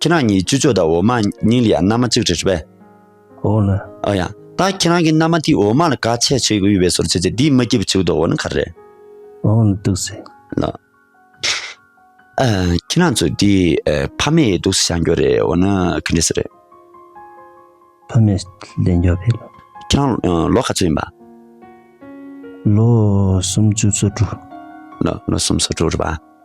ཁྱེད་རང་གཉིས་ཅི་ཅོ་ད་འོ་མ་གཉིས་ལ་ཡང་མནའ་མ་གཅིག་རེ་རེད་པས། འོ་ན། ཨོ་ཡ། ད་ཁྱེད་རང་གི་མནའ་མ་དེའི་འོ་མ་ལ་དཀའ་ཆས་བྱེད་དགོས་པས་སོར་ཆུད་ཚེ་དེའི་མི་སྐྱིད་པོ་བྱེད་དགོས་འོ་ན་ག་རེ་རེད། འོ་ན་སྡུག་ཟེ། ལ། ཨ། ཁྱེད་རང་ཚོ་དེ་ཕ་མེས་སྡུག་ས་བྱང་རྒྱོ་རེད་འོ་ན་ག་འདྲེ་ས་རེད། ཕ་མེས་ལས་མགྱོ་བས། ཁྱེད་རང་ལོ་ག་ཚོད་ཡིན་པ། ལོ་སུམ་ཅུ་སོ་དྲུག། ལོ་སུམ་སོ་དྲུག་རེད་པ།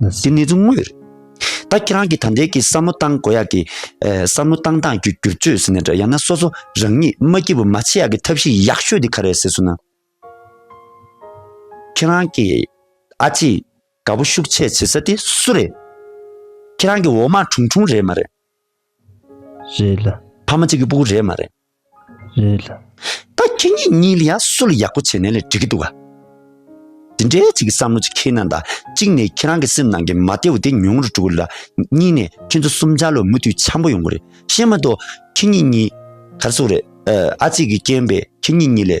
འདི་ནི་རྫུན་དངོས་རེད། ད་ཁྱེད་རང་གིས་ད་འདས་ཀྱི་བསམ་བློ་བཏང་དགོས་ཡག་གི། བསམ་བློ་བཏང་སྟངས་ཀྱི་བསྒྱུར་བཅོས་ཟེར་ནས་འདྲ་ཡང་ན་སོ་སོ་རང་ཉིད་མ་སྐྱིད་པོ་མ་བྱེད་ཡག་གི་ཐབས་ཤེས་ཡག་ཤོས་འདི་ག་རེད་ཟེར་སོང་ན། ཁྱེད་རང་གི་ཨ་ཅེས་དགའ་པོ་ཤུགས་ཆེ་བྱེད་ས་དེ་སུ་རེད། ཁྱེད་རང་གི་འོ་མ་ཁྲུང་ཁྲུང་རེད་མ་རེད། རེད་ལ། ཕ་མ་གཅིག་གི་སྤུ་གུ་རེད་མ་རེད། རེད། ད་ཁྱེད་གཉིས་གཉིས་ལ་ཡ་སུ་ལ་ཡག་པོ་བྱས་ནས་ལས་འགྲིག་གི་འདུག་ག། དེ་འདྲའི་ཅིག་གི་བསམ་བློ་ཅིག་ཁྱེད་ནང་དང་གཅིག་ནས་ཁྱེད་རང་གི་སེམས་ནང་གི་མ་བདེ་བོ་དེ་ཉུང་རུ་འགྲོ་གི་ལ་གཉིས་ནས་ཁྱེད་ཚོ་གསུམ་ཆར་ལོ་མུ་མཐུད་འཆམ་པོ་ཡོང་གི་རེད་ཤེས་མ་གཏོགས་ཁྱེད་གཉིས་གཉིས་གར་སོང་རེད་ཨ་ཅིག་གི་རྐྱེན་པས་ཁྱེད་གཉིས་གཉིས་ལས་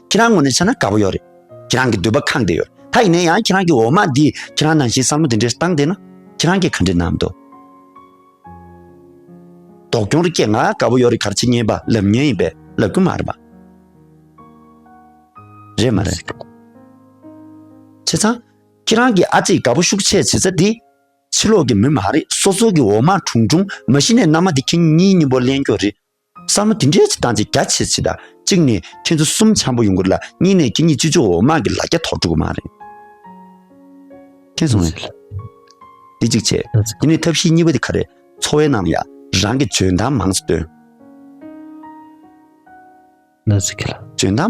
ཁྱེད་རང་ངོ་ནས་ཆ་ན་དགའ་པོ་ཡོད་རེད། ཁྱེད་རང་གི་འདོད་པ་གང་དེ་ཡོད་རེད། ད་ཡིན་ན་ཡང་ཁྱེད་རང་གི་འོ་མ་འདིས་ཁྱེད་རང་ནང་བཞིན་བསམ་བློ་འདི་འདྲའི་བཏང་བསྡད་ན། ཁྱེད་རང་གིས་ག་འདྲའི་གནང་འདོད། དོགས་སྐྱོང་རེ་སྐྱེས་ང་དགའ་པོ་ཡོད་རེད་གར་བྱེད་ཉེས་པ་ལབ་ཉེན་ཡིན་པས་ལབ་རྒྱུ་མ་རེད་པ། རེད་མ་རེད། བྱས་ཙང། ཁྱེད་རང་གི་ཨ་ཙི་དགའ་པོ་ཤུགས་ཆེ་བྱེད་ས་དེ། ཕྱི་ལོག་གི་མི་མ་རེད་སོ་སོ་གི་འོ་མ་དྲུང་དྲུང་མ་གཞི་ནས་མནའ་མ་དེ་ཁྱེད་གཉིས་གཉིས་པོ་གླེང་རྒྱུ་རེད། བསམ་བློ་དེ་འདྲའི་ཆེ་སྟངས་ཅིག་རྒྱ་ཆེ་ཆེ་དང་གཅིག་ནས་ཁྱེད་ཚོ་གསུམ་འཆམ་པོ་ཡོང་དགོས་ལ་གཉིས་ནས་ཁྱེད་གཉིས་སྤྱི་ཚོགས་འོག་དམག་གི་ལ་རྒྱ་ཐོག་འགྲོ་དགོས་མ་རེད། ཁྱེད་ཚོ་ངས་འདི་གཅིག་བྱས་དེ་ནས་ཐབས་ཤེས་གཉིས་པ་དེ་ག་རེད་འཚོ་བའི་ནང་ལ་ཡང་རང་གི་འཇོན་ཐང་མང་ཙམ་སྟོན། འཇོན་ཐང།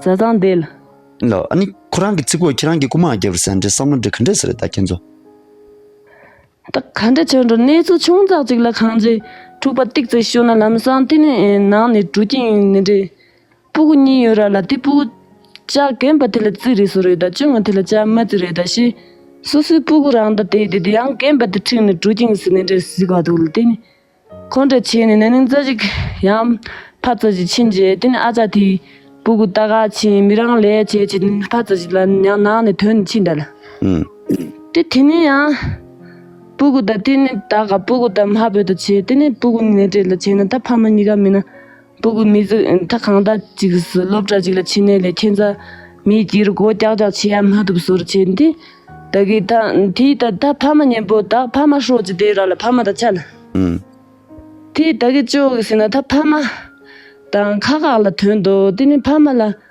བཟའ་ཚང་བསྡད། ལ། ཨ་ནི། ཁོ་རང་གི་ཚིག་གོ་ཁྱེད་རང་གི་རྐུ་མ་རྒྱབ་རེད་ཟེར་འདྲེ་བསམ་བློ་འདྲེ་ག་འདྲེ་ཟེར་རེད་ད་ཁྱེད་ཚོ། ད་ག་འདྲེ་ཁྱེད་ཚོ་གནས་ཚུལ་ཆུང་ཙག་ཅིག་ལ་ཁང་རྗེ་འཁྲུག་པ་ཏིག་ཙིག་ཤོད་ན་ལམ་སང་དེ་ནས་ནང་ནས་དྲུག་ཀྱིན་ཡོད་ནི་འདྲེ། སྤུ་གུ་གཉིས་ཡོད་ར་ལ་དེ་སྤུ་གུ། ལྕག་གན་པ་དེ་ལ་རྩིས་རེད་སོ་རེད་ད་ཅུང་ང་དེ་ལ་ལྕག་མ་རྩིས་རེད་ད་ཤེས། སོ་སོའི་སྤུ་གུ་རང་ད་དེ་དེ་དེ་ཡང་གན་པ་དེ་འཁྲིགས་ནས་དྲུག་ཀྱིན་ཟིན་ནི་འདྲེ་གཟིགས་པ་འདུག་ལ་དེ་ནས། ཁོང་ཁྲོ་ཆེ་ནས་ན་ནིང་རྩ་ཆེ་ཡང་ཕ་རྩ་ཆེ་ཕྱིན་རྗེས་དེ་ནི་ཨ་ཅག་དེའི་སྤུ་གུ་རྟ་ག་ཆེན་མི་རང་ལས་བྱེད་ཅེས་ཕ་རྩ་ཆེ་ལ་ཡང་ནང་ནས་དོན་ནི་ཕྱིས་འདྲ་ལ། དེ་དེ་ནས་ཡང་སྤུ་གུ་དང་དེ་ནི་རྟ་ག་སྤུ་གུ་དང་མ་བོས་ད་བྱེད་དེ་ནི་སྤུ་གུ་ནས་བྲེད་ལ་བྱེད་ན་ད་ཕ་མ་གཉིས་ཀ་མིན་ན། སྤུ་གུ་མི་གཟུགས་མཐའ་གང་དག་ཅིག་གིས་སློབ་གྲྭ་གཅིག་ལ་ཕྱི་ནས་ལས་མཁན་རྩ་མེད་ཀྱིས་སྒོ་རྐྱག་རྐྱག་བྱེད་ཡ་མ་ཐུབ་ཟུར་བྱས་ཏེ། ད་གི་ད་དེའི་ད་ད་ཕ་མ་གཉེན་པོ་དག་ཕ་མ་ཧྲོག་ཅིག་དེའི་ར་ལ་ཕ་མ་དང་ཆ་ན། དེ་ད་གི་ཅོག་གི་ཟེར་ན་ད་ཕ་མ། དང་ཁ་ཁག་ལ་དོན་དུ་དེ་ནི་ཕ་མ་ལ།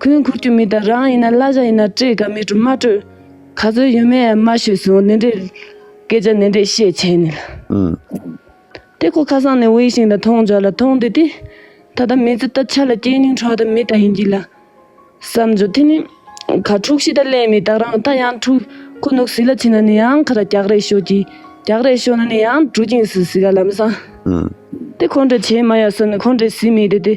ཁོའི་འཁོར་གྱི་མི་དང་རང་ཡིན་ན་གླ་གཞས་ཡིན་ན་སྤྲེལ་དགའ་མི་དྲོ་མ་དྲོ་ག་ཚོད་ཡོད་མེད་མ་ཤོད་སོང་ནི་འདྲེ་སྐད་ཆ་ནི་འདྲེ་བཤད་བྱས་ནི་ལ། དེ་ཁོ་ཁ་སང་ནས་འོས་ཤིང་དང་ཐོང་འཇག་ལ་ཐོང་དེ་དེ་ད་ལྟ་མི་ཚེ་ད་ཆ་ལ་སྐྱེས་སྙིང་འཕྲོག་ད་མི་ད་ཡིན་གྱི་ལ་བསམ་རྒྱུ་དེ་ནི་ག་འཁྲུག་ཤི་ད་གླེན་མི་དག་རང་ད་ཡང་འཁྲུག་ཁོ་ནུག་ཟི་ལ་ཕྱིན་ན་ནི་ཡང་ཁ་ར་རྒྱག་རེ་ཤོད་ཀྱི་རྒྱག་རེ་ཤོད་ན་ནི་ཡང་གྲུ་གིང་སུ་ཟི་ག་ལམ་སང་དེ་ཁོ་འདྲེ་བྱེད་མ་ཡ་བསམ་ནི་ཁོ་འདྲེ་ཟི་མི་དེ་དེ།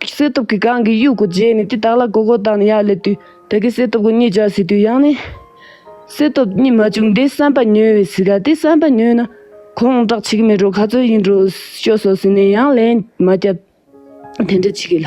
བསད་སྟོབས་ཀྱིས་གང་གི་དབྱུག་གུ་བརྗེས་ནས་དེ་དག་ལ་གོ་གོ་བཏང་ནས་ཡར་སླེབས་དུས་ད་གིན་བསད་སྟོབས་ཀྱི་གཉིད་རྒྱག་སྲིད་དུས་ཡང་ནི། བསད་སྟོབས་གཉིད་མ་བཅུག་འདི་བསམ་པ་ཉོས་བས་སྲིད་ག་དེ་བསམ་པ་ཉོས་ན་ཁོང་སྐྲག་བྱེད་ཀྱི་མེད་འགྲོ་ག་ཚོད་ཡིན་འགྲོ་ཤོག་སོགས་ཟེར་ནས་ཡང་ལན་མ་བརྒྱབ། དེ་འདྲ་བྱེད་ཀྱི་ལ།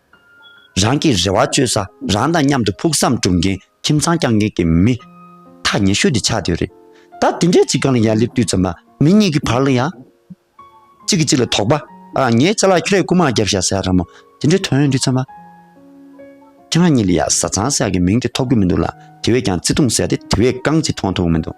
རང་གི་རེ་བ་བཅོལ་ས་རང་དང་མཉམ་དུ་ཕུགས་བསམ་སྒྲུབ་མཁན་ཁྱིམ་ཚང་བསྐྱང་མཁན་གྱི་མི། ཐག་ཉེ་ཤོས་དེ་ཆགས་བསྡད་རེད། ད་དེ་འདྲའི་ཅིག་གང་ལ་ཡར་སླེབས་དུས་ཙམ་ལ་མི་གཉིས་ཀྱི་བར་ལ་ཡང། གཅིག་གིས་གཅིག་ལ་དོགས་པ། ཨ་ངའི་ལྕེ་ལ་ཁྱོད་རས་ཀུ་མ་བརྒྱབ་བཞག་ཟེར་ཡག་ར་མོ། དེ་འདྲའི་དོན་ཡོད་དུས་ཙམ་ལ། ཁྱེད་རང་གཉིས་ལ་ཡང་བཟའ་ཚང་ཟེར་ཡག་གི་མིང་དེ་ཐོགས་ཀྱི་མི་འདུག་ལ་དེ་བས་ཀྱང་བརྩེ་དུང་ཟེར་ཏེ་དེ་བས་རྐང་གཅིག་མཐོང་ཐུབ་མི་འདུག།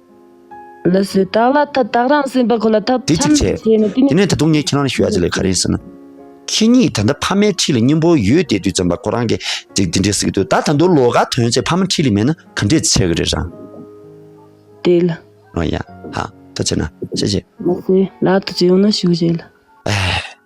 ལི་སི་སྟག་ལ་ཐབས་དག་རང་སེམས་དཔའ་ཁོ་ལ་ཐབས་འདི་གཅིག་ཆེད་བྱས་ནས་དེ་ནས་ད་དུང་ངས་ཁྱེད་རང་ལ་ཞུ་ཡག་ཅིག་ལས་ག་རེ་ཟེར་ན། ཁྱེད་ཉིད་ད་ལྟ་ཕ་མའི་ཁྲིད་ལ་སྙིང་པོ་ཡོད་དེ་དུས་ཙམ་པ་ཁོ་རང་གིས་འགྲིག་འདི་འདྲའི་ཟིག་དུས་ད་ད་དུང་ལོ་ག་དོན་ཆེད་ཕ་མ་ཁྲིད་ལས་མེད་ན་ག་འདྲས་ཆེ་གི་རེད་རང། དེ་ལ། ཨོ་ཡ། ཧ། ད་བྱས་ན། བྱས་བྱས། ལི་སི་ལ་ད་བྱས་ཡོང་ན་ཞུ་བྱས་ལ། ཨེ།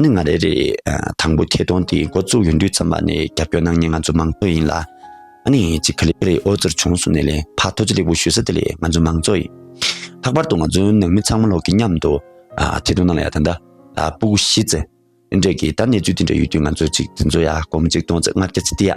ཨ་ནི་ང་རེད་རེད། དང་པོ་ཁྱེད་གདོང་འདི་མགོ་བཙུགས་ཡོང་དུས་ཙམ་པ་ནས་རྒྱབ་སྐྱོར་གནང་མྱེད་ང་ཚོ་མང་གཙོ་ཡིན་ལ། ཨ་ནི་ཅིག་ག་ལེ་རེད་ཨོ་རྩེར་བྱུང་གསུངས་ནས་ལན་ཕག་ཐོ་ཅི་ལེགས་པོ་ཞུས་ས་དེ་ལས་ང་ཚོ་མང་གཙོ་ཡིན། ལྷག་པར་དུ་ང་ཚོའི་ནང་མི་ཚང་མ་ལོག་གི་མཉམ་དུ་ཐེ་གཏོགས་གནང་ལ་ཡ་ད་ད་སྤུག་གཞི་རྩེ། འདྲེ་གི་ད་གནས་ཚུལ་དེ་འདྲ་ཡོད་དུས་ང་ཚོ་ཅིག་དེ་ཚོ་ཡ་གོམ་གཅིག་གདོང་གཅིག་ལྔ་བརྒྱ་རྩི་ཏི་ཡ།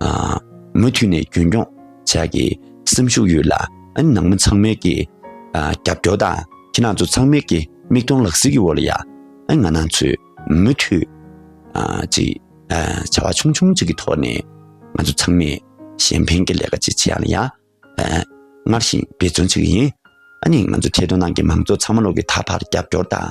མུ་མཐུད་ནས་རྒྱུན་འཁྱོངས་བྱ་རྒྱུའི་སེམས་ཤུགས་ཡོད་ལ། ནང་མི་ཚང་མའི་ཀྱི་རྒྱབ་སྐྱོར་དང་ཁྱེད་རང་ཚོ་ཚང་མའི་ཀྱི་མིག་མཐོང་ལག་ཟིན་གྱི་འོག་ལ་ཡང་ང་རང་ཚོས་མུ་མཐུད་ཅིག་བྱ་བ་ཆུང་ཆུང་ཅིག་གི་ཐོག་ནས་ང་ཚོ་ཚང་མས་གཞན་ཕན་གྱི་ལས་ཀ་ཅིག་བྱེད་ཡག་ལ་ཡང་སྔར་བཞིན་འབད་བརྩོན་ཅིག་ཡིན། ང་ཚོ་ཐད་གཏོང་ནང་གི་མང་ཚོགས་ཚང་མ་ལོག་གི་ད་བར་རྒྱབ་སྐྱོར་དང།